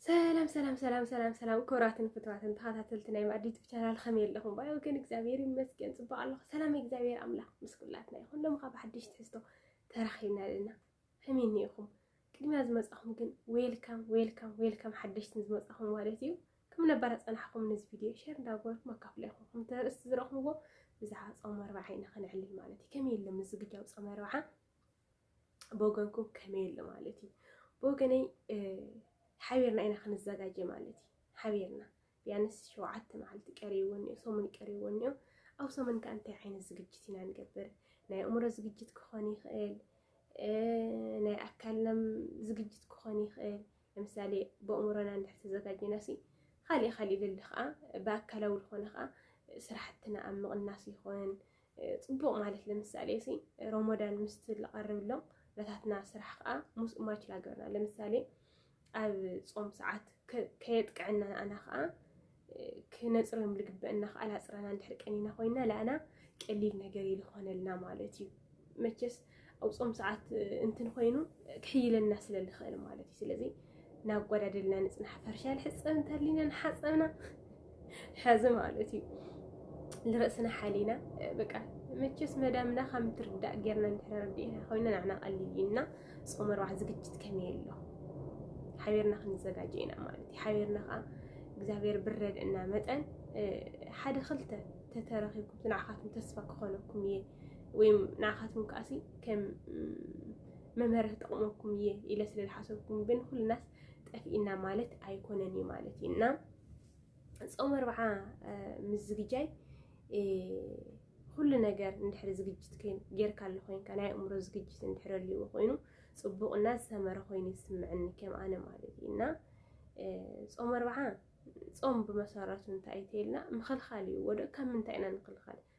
ሰላም ሰላም ሰላም ሰላም ሰላም ክቡራትን ፍትዋትን ተኸታተልቲ ናይ ማዕዲ ዩቱብ ቻናል ከመይ ኣለኹም? ባይ ወገን እግዚኣብሔር ይመስገን ፅቡቅ ኣለኹ። ሰላም እግዚኣብሔር ኣምላኽ ምስ ኩላትና ይኹን። ሎሚ ካብ ሓድሽ ትሕዝቶ ተራኺብና ኣለና። ከመይ እኒኢኹም? ቅድሚያ ዝመፃኹም ግን ዌልካም ዌልካም ዌልካም ሓደሽትን ዝመፃኹም ማለት እዩ። ከም ነባር ፀናሕኩም ነዚ ቪድዮ ሸር እንዳገበርኩም ኣካፍለ ይኹም። ከምቲ ርእስቲ ዝረኹምዎ ብዛዕባ ፆም ኣርባዓ ኢና ከነዕልል ማለት እዩ። ከመይ ኣሎ ምዝግጃው ፆም ኣርባዓ ብወገንኩም ከመይ ኣሎ ማለት እዩ ብወገነይ ሓቢርና ኢና ክንዘጋጀ ማለት እዩ ሓቢርና ቢያንስ ሸውዓተ መዓልቲ ቀሪቡ እኒኦ ሰሙን ቀሪቡ እኒኦ ኣብ ሰሙን ከዓ እንታይ ዓይነት ዝግጅት ኢና ንገብር ናይ ኣእምሮ ዝግጅት ክኾን ይኽእል ናይ ኣካልናም ዝግጅት ክኾን ይኽእል ለምሳሌ ብእምሮና እንድሕር ተዘጋጅና ሲ ካሊእ ካሊእ ልል ከዓ ብኣካላዊ ዝኾነ ከዓ ስራሕትና ኣብ ምቕናስ ይኹን ፅቡቕ ማለት ለምሳሌ ሲ ሮሞዳን ምስ ዝቐርብሎም ነታትና ስራሕ ከዓ ሙስ ማች ላገርና ለምሳሌ ኣብ ፆም ሰዓት ከየጥቅዐና ንኣና ከዓ ክነፅርም ልግበእና ከዓ ላፅረና እንድሕር ቀኒና ኮይና ለኣና ቀሊል ነገር ይልኾነልና ማለት እዩ መቸስ ኣብ ጾም ሰዓት እንትን ኮይኑ ክሕይለና ስለ ዝኽእል ማለት እዩ ስለዚ ናጓዳደልና ንጽናሕ ፈርሻ ልሕጸብ እንተሊና ንሓጸብና ሕዚ ማለት እዩ ንርእስና ሓሊና በቃ መቸስ መዳምና ከም ትርዳእ ጌርና እንድሕር ረዲእና ኮይና ንዓና ቀሊል እዩ እና ጾም ኣርባዕ ዝግጅት ከመይ ኣሎ ሓቢርና ክንዘጋጀ ኢና ማለት እዩ ሓቢርና ከዓ እግዚኣብሔር ብረድእና መጠን ሓደ ክልተ ተተረኺብኩም ንዓኻትኩም ተስፋ ክኾነኩም እየ ወይ ንዓኻትኩም ከዓሲ ከም መምህር ክጠቕመኩም እየ ኢለ ስለ ዝሓሰብኩም ግን ኩልናስ ጠፊእና ማለት ኣይኮነን እዩ ማለት እዩ እና ፆም ኣርብዓ ምስ ዝግጃይ ኩሉ ነገር እንድሕሪ ዝግጅት ጌርካ ኣሎ ኮይንካ ናይ ኣእምሮ ዝግጅት እንድሕሪ ኣልዎ ኮይኑ ፅቡቕና ዝሰመረ ኮይኑ ይስምዐኒ ከም ኣነ ማለት እዩ እና ፆም ኣርብዓ ፆም ብመሰረቱ እንታይ እዩ ተይልና ምኽልኻል እዩ ወደ ካብ ምንታይ ኢና ንኽልኻል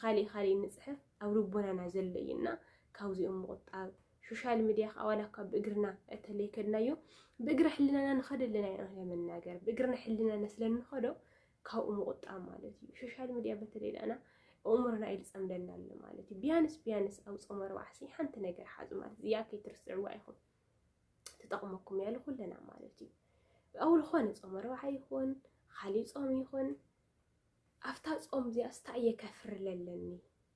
ኻሊእ ኻሊእ ንፅሕፍ ኣብ ልቦናና ዘሎ እዩ እና ካብዚኦም ምቑጣብ ሶሻል ሚዲያ ከዓ ዋላ እኳ ብእግርና እተለይ ከድናዮ ብእግረ ሕልናና ንኸደ ኣለና ኢና ለመናገር ብእግርና ሕልናና ስለ ንኸዶ ካብኡ ምቑጣብ ማለት እዩ ሶሻል ሚዲያ በተለይ ዳና እምሮና ኢልፀምደና ኣሎ ማለት እዩ ቢያንስ ቢያንስ ኣብ ፆመ ርባዕሲ ሓንቲ ነገር ሓዙ ማለት እዚኣ ከይትርስዕዋ ኢኹም ትጠቕመኩም ያለ ኩለና ማለት እዩ ኣብ ዝኾነ ፆመ ርባዕ ይኹን ኻሊእ ፆም ይኹን ኣፍታ ጾም እዚኣ ስታይ እየ ከፍሪ ለለኒ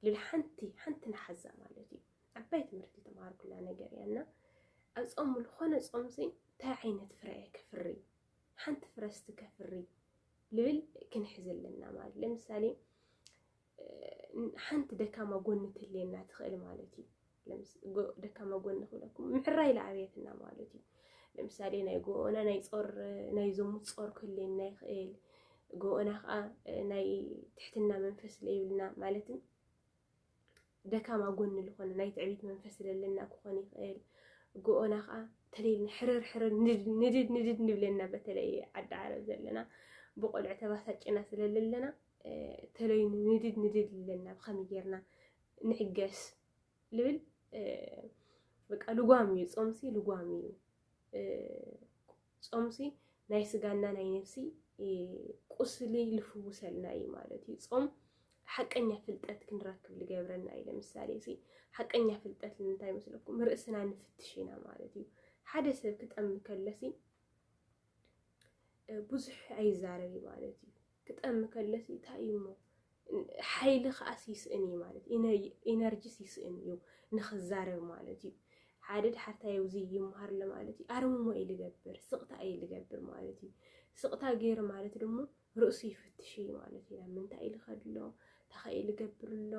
ልል ሓንቲ ሓንቲ ንሓዛ ማለት እዩ ዓባይ ትምህርቲ ተማሃርኩላ ነገር እያ እና ኣብ ጾም ዝኾነ ጾም ሲ እንታይ ዓይነት ፍረ እየ ከፍሪ ሓንቲ ፍረ ስቲ ከፍሪ ልብል ክንሕዝ ኣለና ማለት ለምሳሌ ሓንቲ ደካማ ጎኒ ትልየና ትኽእል ማለት እዩ ደካማ ጎኒ ክብለኩም ምሕራይ ለኣብያትና ማለት እዩ። ለምሳሌ ናይ ጎኦና ናይ ጾር ናይ ዘሙት ጾር ክህልየና ይኽእል። ጎኦና ከዓ ናይ ትሕትና መንፈስ ለይብልና ማለትም ደካማ ጎኒ ዝኾነ ናይ ትዕቢት መንፈስ ለለና ክኾን ይኽእል። ጎኦና ከዓ ተለይልና ሕርር ሕርር ንድድ ንድድ ንብለና በተለይ ዓዲ ዓረብ ዘለና ብቆልዑ ተባሳጭና ስለለለና ተለይ ንድድ ንድድ ይብለና ብኸመይ ጌርና ንዕገስ ልብል በቃ ልጓም እዩ ጾምሲ ልጓም እዩ ጾምሲ ናይ ስጋና ናይ ነፍሲ ቁስሊ ልፍውሰልና እዩ ማለት እዩ ጾም ሓቀኛ ፍልጠት ክንረክብ ልገብረና እዩ ለምሳሌ ሲ ሓቀኛ ፍልጠት ንምንታይ መስለኩም ርእስና ንፍትሽ ኢና ማለት እዩ ሓደ ሰብ ክጠም ከለሲ ብዙሕ ኣይዛረብ እዩ ማለት እዩ። ክጠሚ ከለሲ እንታይ እዩ እሞ ሓይሊ ከዓስ ይስእን እዩ ማለት እዩ። ኢነርጂስ ይስእን እዩ ንክዛረብ ማለት እዩ። ሓደ ድሓርታይ ኣብዚ ይመሃር ኣሎ ማለት እዩ። ኣርምሞ እዩ ልገብር፣ ስቕታ እዩ ልገብር ማለት እዩ። ስቕታ ገይሩ ማለት ድሞ ርእሱ ይፍትሽ እዩ ማለት ኢና ምንታይ ልኸድ ኣሎ ታኸይ ልገብር ኣሎ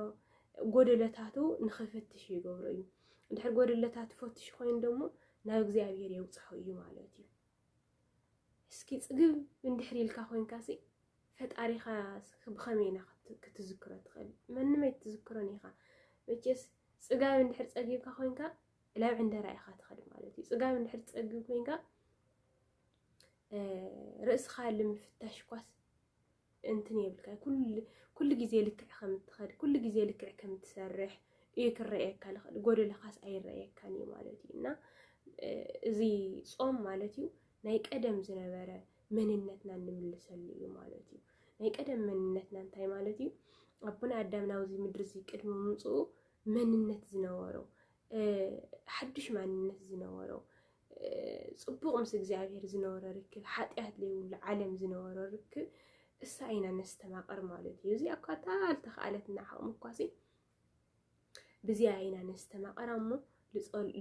ጎደለታቱ ንኽፍትሽ ይገብሮ እዩ ድሕር ጎደለታት ፈትሽ ኮይኑ ደሞ ናብ እግዚኣብሔር የውፅሖ እዩ ማለት እዩ እስኪ ፅግብ እንድሕር ኢልካ ኮንካ ሲ ፈጣሪኻ ብኸመይ ኢና ክትዝክሮ ትኽእል መንመይ ትዝክሮን ኢኻ መቼስ ፅጋብ እንድሕር ፀጊብካ ኮንካ ላብ ዕንደራ ኢኻ ትኸድ ማለት እዩ ፅጋብ እንድሕር ፀግብ ኮንካ ርእስኻ ልምፍታሽ ኳስ እንትን የብልካ ኩሉ ግዜ ልክዕ ከም እትኸድ ኩሉ ግዜ ልክዕ ከም እትሰርሕ እዩ ክረኣየካ ልኽእል ጎደለኻስ ኣይረኣየካን እዩ ማለት እዩ እና እዚ ፆም ማለት እዩ ናይ ቀደም ዝነበረ መንነትና እንምልሰሉ እዩ ማለት እዩ ናይ ቀደም መንነትና እንታይ ማለት እዩ ኣቦና ኣዳም ናብዚ ምድሪ እዚ ቅድሚ ምምፅኡ መንነት ዝነበሮ ሓዱሽ ማንነት ዝነበሮ ፅቡቕ ምስ እግዚኣብሔር ዝነበሮ ርክብ ሓጢኣት ዘይብሉ ዓለም ዝነበሮ ርክብ እሳ ኢና ነስተማቕር ማለት እዩ እዚኣ እኳ ኣልተኽኣለትና ዓቕሚ እኳ ሲ ብዚኣ ኢና ነስተማቕር እሞ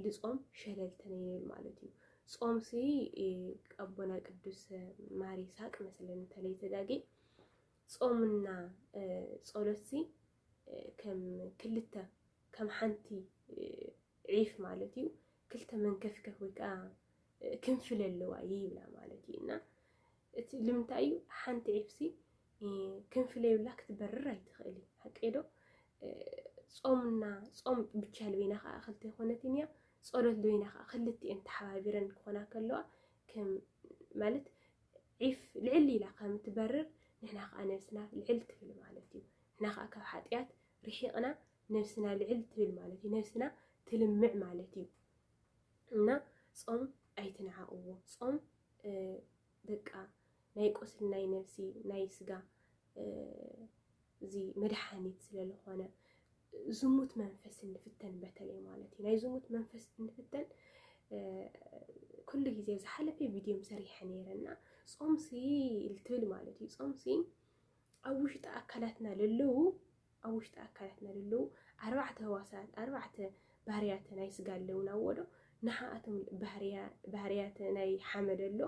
ልፆም ሸለልተን ይብል ማለት እዩ ጾም ሲ ቀቦና ቅዱስ ማር ይስሐቅ መሰለኝ እንተለይ ተጋጊ ጾምና ጸሎት ሲ ከም ክልተ ከም ሓንቲ ዒፍ ማለት እዩ ክልተ መንከፍከፍ ወይ ከዓ ክንፍለ ኣለዋ እዩ ይብላ ማለት እዩ እና እቲ ልምንታይ እዩ ሓንቲ ዒፍሲ ክንፍለዩላ ክትበርር ኣይትኽእል እዩ ሓቀዶ ጾምና ጾም ብቻ ልበይና ከዓ ክልተ ይኮነትን እያ ጸሎት ልበይና ከዓ ክልቲኤን ተሓባቢረን ክኾና ከለዋ ማለት ዒፍ ልዕል ኢላ ከም ትበርር ንሕና ከዓ ነብስና ልዕል ትብል ማለት እዩ ንሕና ከዓ ካብ ሓጢኣት ርሒቕና ነብስና ልዕል ትብል ማለት እዩ። ነብስና ትልምዕ ማለት እዩ እና ጾም ኣይትንዓቕዎ። ጾም በቃ ናይ ቁስል ናይ ነብሲ ናይ ስጋ እዚ መድሓኒት ስለዝኾነ ዝሙት መንፈስ እንፍተን በተለይ ማለት እዩ ናይ ዝሙት መንፈስ እንፍተን ኩሉ ግዜ ዝሓለፈ ቪድዮ ሰሪሐ ነይረ እና ጾምሲ ልትብል ማለት እዩ ጾምሲ ኣብ ውሽጢ ኣካላትና ለለዉ ኣብ ውሽጢ ኣካላትና ዘለዉ ኣርባዕተ ህዋሳት ኣርባዕተ ባህርያተ ናይ ስጋ ኣለዉና እዎዶ ንሓኣቶም ባህርያተ ናይ ሓመድ ኣሎ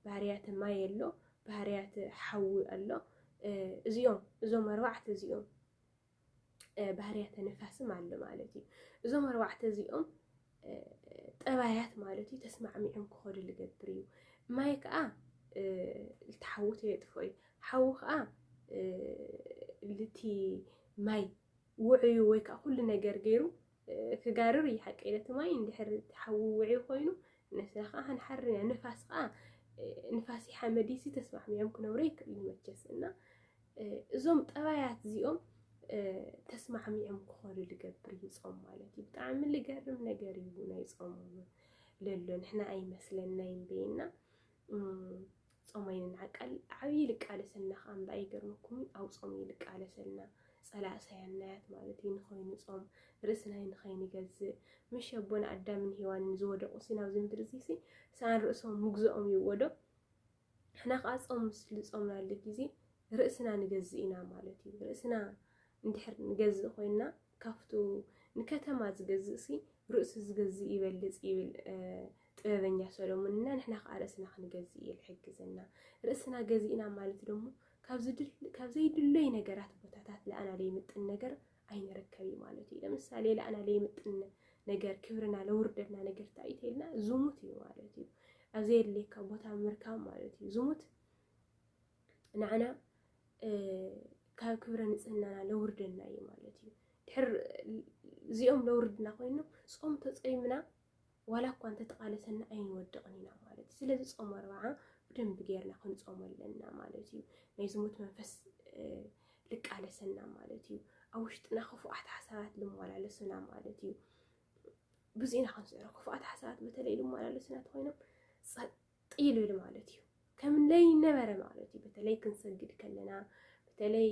ባህርያተ ማይ ኣሎ ባህርያተ ሓዊ ኣሎ እዚኦም እዞም ኣርባዕተ እዚኦም ባህርያተ ንፋስም ኣሎ ማለት እዩ እዞም ኣርባዕተ እዚኦም ጠባያት ማለት እዩ ተስማዕሚዖም ክኸዱ ልገብር እዩ ማይ ከዓ እቲ ሓዊ ተየጥፍኦ እዩ ሓዊ ከዓ ልቲ ማይ ውዕዩ ወይ ከዓ ኩሉ ነገር ገይሩ ክጋርር እዩ ሓቂ ነቲ ማይ እንድሕር ሓዊ ውዕዩ ኮይኑ ንስና ከዓ ክንሓር ኢና ንፋስ ከዓ ንፋሲ ሓመዲሲ ተስማዕሚዖም ክነብሩ ይክእሉ መቸስ እና እዞም ጠባያት እዚኦም ተስማዕሚዖም ክኾኑ ዝገብር እዩ ፆም ማለት እዩ ብጣዕሚ ዝገርም ነገር እዩ ናይ ፆም ለሎ ንሕና ኣይመስለናይ እምበይና ፆማይንን ዓቃል ዓብዪ ልቃለሰልና ከዓ እምበ ኣይገርመኩም ኣብ ፆም እዩ ልቃለሰልና ፀላእ ሳያናያት ማለት እዩ ንኸይኑ ፆም ርእስናይ ንኸይንገዝእ ምሽ ኣቦና ኣዳምን ሄዋንን ዝወደቑ ሲ ናብዚ ምድሪ እዚ ሲ ሰኣን ርእሶም ምግዝኦም ይወደቕ ንሕና ከዓ ፆም ምስ ልፆምናሉ ግዜ ርእስና ንገዝእ ኢና ማለት እዩ። ርእስና እንድሕር ንገዝእ ኮይንና ካብቱ ንከተማ ዝገዝእ ሲ ርእሱ ዝገዝእ ይበልፅ ይብል ጥበበኛ ሰሎሞን እና ንሕና ከዓ ርእስና ክንገዝእ እዩ ዝሕግዘና። ርእስና ገዚእና ማለት ደሞ ካብ ዘይድለይ ነገራት ቦታታት ለኣና ዘይምጥን ነገር ኣይንርከብ እዩ ማለት እዩ ለምሳሌ ለኣና ለይምጥነ ነገር ክብርና ለውርደና ነገር ታይተልና ዝሙት እዩ ማለት እዩ ኣብ ዘየድልየካ ቦታ ምርካብ ማለት እዩ ዝሙት ንዓና ካብ ክብረ ንፅህናና ለውርደና እዩ ማለት እዩ ድሕር እዚኦም ለውርድና ኮይኑ ፆም ተፀይምና ዋላ እኳ እንተተቓለሰና ኣይንወድቕን ኢና ማለት እዩ። ስለዚ ጾም ኣርብዓ ብደንቢ ጌርና ክንጾም ኣለና ማለት እዩ። ናይ ዝሙት መንፈስ ልቃለሰና ማለት እዩ። ኣብ ውሽጥና ክፉኣት ሓሳባት ልመላለሱና ማለት እዩ። ብዙ ኢና ክንስዕሮ ክፉኣት ሓሳባት በተለይ ልመላለሱና ተኮይኖም ጸጥ ይልብል ማለት እዩ። ከም ለይነበረ ማለት እዩ። በተለይ ክንሰግድ ከለና በተለይ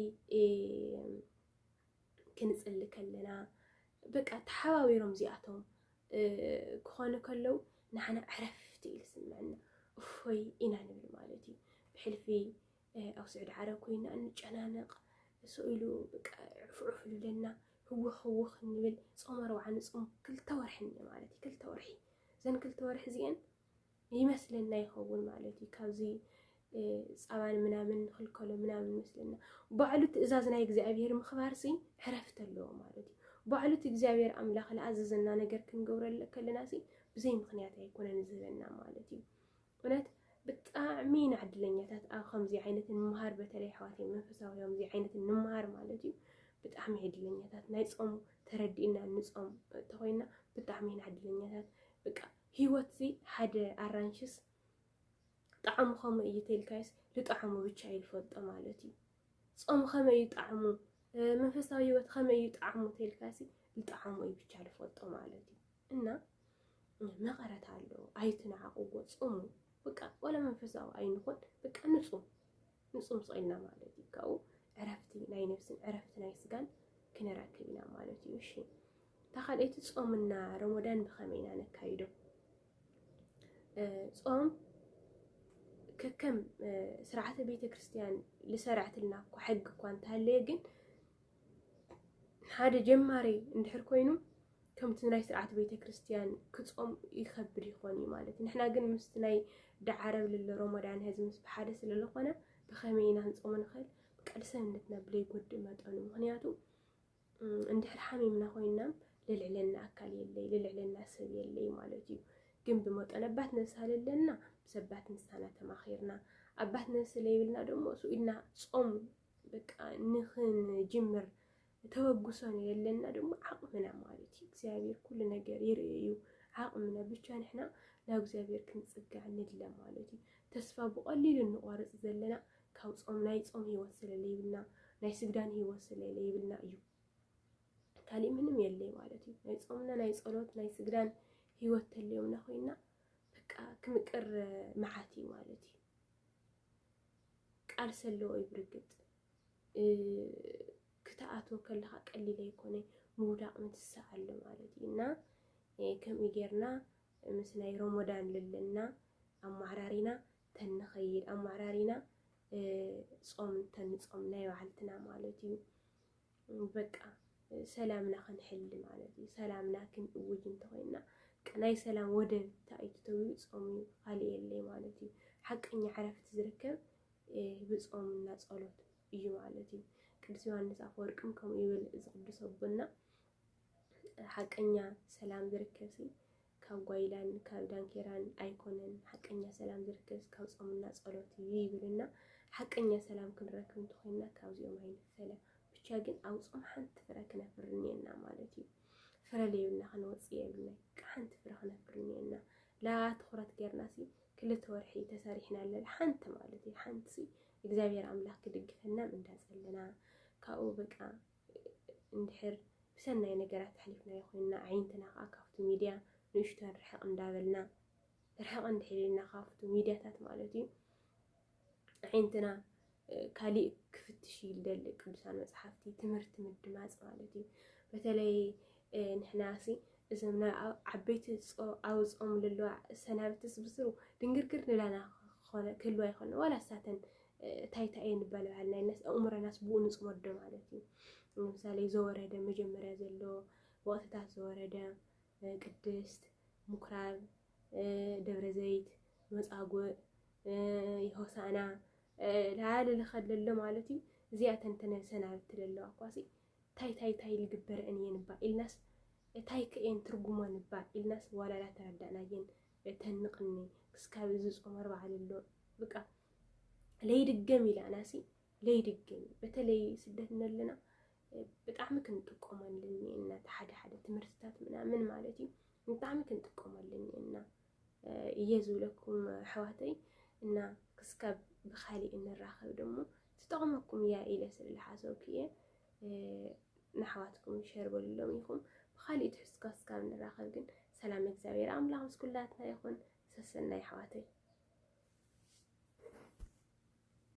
ክንጽሊ ከለና በቃ ተሓባቢሮም እዚኣቶም ክኾኑ ከለው ንዓና ዕረፍቲ እዩ ዝስምዐና እፎይ ኢና ንብል ማለት እዩ ብሕልፊ ኣብ ስዑዲ ዓረብ ኮይና እንጨናነቕ ስኢሉ ዕፍዑፍ ኢሉለና ህውኽ ህውኽ ንብል ፆም ኣርብዓ ንፆም ክልተ ወርሒ እኒ ማለት እዩ ክልተ ወርሒ እዘን ክልተ ወርሒ እዚአን ይመስለና ይኸውን ማለት እዩ ካብዚ ፃባን ምናምን ንክልከሎ ምናምን ይመስለና ባዕሉ ትእዛዝ ናይ እግዚኣብሄር ምኽባር ሲ ዕረፍቲ ኣለዎ ማለት እዩ ባዕሉ እቲ እግዚኣብሄር ኣምላኽ ዝኣዘዘና ነገር ክንገብረ ከለና ሲ ብዘይ ምክንያት ኣይኮነን ዝህበና ማለት እዩ እውነት ብጣዕሚ ኢና ዕድለኛታት ኣብ ከምዚ ዓይነት ንምሃር በተለይ ኣሕዋተይ መንፈሳዊ ከምዚ ዓይነት ንምሃር ማለት እዩ ብጣዕሚ ዕድለኛታት ናይ ፆም ተረዲእና ንፆም ተኮይና ብጣዕሚ ኢና ዕድለኛታት በቃ ሂወት'ዚ ሓደ ኣራንሽስ ጣዕሙ ከመይ እዩ ተልካይስ ልጣዕሙ ብቻ እዩ ልፈልጦ ማለት እዩ ጾም ከመይ እዩ ጣዕሙ መንፈሳዊ ሂወት ከመይ እዩ ጣዕሙ ተልካሲ ልጣዕሙ እዩ ብቻ ልፈልጦ ማለት እዩ እና መቐረት ኣሎ ኣይትናዓቕዎ ጾሙ በቃ ወላ መንፈሳዊ ኣይንኹን በቃ ንጹም ንጹም ጽኢልና ማለት እዩ ካብኡ ዕረፍቲ ናይ ነብስን ዕረፍቲ ናይ ስጋን ክንረክብ ኢና ማለት እዩ እሺ እታ ካልኣይቲ ጾምና ረሞዳን ብኸመይ ኢና ነካይዶ? ጾም ከከም ስርዓተ ቤተ ክርስቲያን ዝሰርዐትልና እኮ ሕጊ እኳ እንተሃለየ ግን ሓደ ጀማሪ እንድሕር ኮይኑ ከምቲ ናይ ስርዓት ቤተ ክርስቲያን ክጾም ይኸብድ ይኾን እዩ ማለት እዩ ንሕና ግን ምስቲ ናይ ዳዓረብ ልለ ሮሞዳን ህዚ ምስ ብሓደ ስለ ዝኾነ ብኸመይ ኢና ንጾም ንኽእል ብቃል ሰብነትና ብለይጎድእ መጠኑ ምክንያቱ እንድሕር ሓሚምና ኮይናም ልልዕለና ኣካል የለይ ልልዕለና ሰብ የለይ ማለት እዩ ግን ብመጠን ኣባት ነብሲ ኣለና ብሰባት ምሳና ተማኺርና ኣባት ነብሲ ለይብልና ደሞ እሱ ኢልና ጾም በቃ ንኽንጅምር ተበግሶን የለና ደሞ ዓቕምና ማለት እዩ እግዚኣብሔር ኩሉ ነገር ይርኢ እዩ ዓቕምና ብቻ ንሕና ናብ እግዚኣብሔር ክንፅጋዕ ንድለ ማለት እዩ ተስፋ ብቐሊሉ እንቆርፅ ዘለና ካብ ጾም ናይ ጾም ህይወት ስለ ለይብልና ናይ ስግዳን ህይወት ስለ ለይብልና እዩ ካልእ ምንም የለይ ማለት እዩ ናይ ጾምና ናይ ጸሎት ናይ ስግዳን ህይወት ተለዮምና ኮይና በቃ ክምቅር መዓት እዩ ማለት እዩ ቃል ሰለዎ እዩ ብርግጥ ክትኣትዎ ከለካ ቀሊል ኣይኮነ ምውዳቅ ምትሳእ ኣሎ ማለት እዩ እና ከምኡ ጌርና ምስ ናይ ሮሞዳን ልልና ኣማዕራሪና ተንኸይድ ኣማራሪና ጾም ተንጾም ናይ ባዕልትና ማለት እዩ በቃ ሰላምና ክንሕሊ ማለት እዩ ሰላምና ክንእውጅ እንተኮይንና ናይ ሰላም ወደብ ታይቱ ተብሉ ጾም እዩ ካልእ የለይ ማለት እዩ ሓቀኛ ዕረፍቲ ዝርከብ ብጾምና ጸሎት እዩ ማለት እዩ ቅዱስ ዮሃንስ ኣፈወርቅም ከምኡ ይብል እዚ ቅዱስ ኣቦና ሓቀኛ ሰላም ዝርከብ ሲ ካብ ጓይላን ካብ ዳንኬራን ኣይኮነን ሓቀኛ ሰላም ዝርከብስ ካብ ጾምና ጸሎት እዩ ይብልና ሓቀኛ ሰላም ክንረክብ እንተኾይንና ካብዚኦም ኣይንፈለ ብቻ ግን ኣብ ጾም ሓንቲ ፍረ ክነፍሪ እኒኤና ማለት እዩ ፍረ ለይብልና ክንወፅእ የብልና ቃ ሓንቲ ፍረ ክነፍሪ እኒኤና ላ ትኹረት ገርናሲ ክልተ ወርሒ ተሰሪሕና ኣለና ሓንቲ ማለት እዩ ሓንቲ እግዚኣብሔር ኣምላኽ ክድግፈና እንዳጸለና ካብኡ በቃ እንድሕር ብሰናይ ነገራት ኣሕሊፍናዮ ኮይንና ኣዒንትና ከኣ ካብቲ ሚድያ ንእሽቶን ርሕቕ እንዳበልና ርሕቕ እንድሕር ኢልና ካብቲ ሚድያታት ማለት እዩ ኣዒንትና ካሊእ ክፍትሽ እዩ ዝደሊ ቅዱሳን መፅሓፍቲ ትምህርቲ ምድማፅ ማለት እዩ በተለይ ንሕናሲ እዞም ዓበይቲ ኣውፅኦም ዘለዋ ሰናብትስ ብስሩ ድንግርግር ንላና ክኾነ ክህልዋ ይኾነ ዋላ ሳተን ታይታየ ንበልባል ናይ ነስ ኣእምሮናስ ብኡ ንፅመዶ ማለት እዩ። ንምሳሌ ዘወረደ መጀመርያ ዘሎ ወቅትታት ዘወረደ ቅድስት፣ ምኩራብ፣ ደብረ ዘይት፣ መፃጉእ፣ ሆሳእና ላለ ልኸለሎ ማለት እዩ። እዚኣ ተንተነ ሰናብቲ ለለዋ ኳሲ ታይ ታይ ታይ ልግበረን እየን እባ ኢልናስ እታይ ከእየን ትርጉሞን እባ ኢልናስ ዋላላ ተረዳእናየን ተንቕኒ ክስካብ እዚ ፆመር በዓል ኣሎ ብቃ ለይድገም ኢላናሲ ለይድገም እዩ በተለይ ስደት ነለና ብጣዕሚ ክንጥቀመሉ እኒኤና እቲ ሓደ ሓደ ትምህርትታት ምናምን ማለት እዩ ብጣዕሚ ክንጥቀመሉ እኒኤና እየ ዝብለኩም ኣሕዋተይ እና ክስካብ ብካሊእ እንራኸብ ደሞ ትጠቕመኩም እያ ኢለ ስለዝሓሰብኩ እየ ንኣሕዋትኩም ሸር በልሎም ኢኹም ብካሊእ ትሕዝቶ ክስካብ ንራኸብ ግን ሰላም እግዚኣብሔር ኣምላኽ ምስ ኩላትና ይኹን ሰሰናዩ ኣሕዋተይ።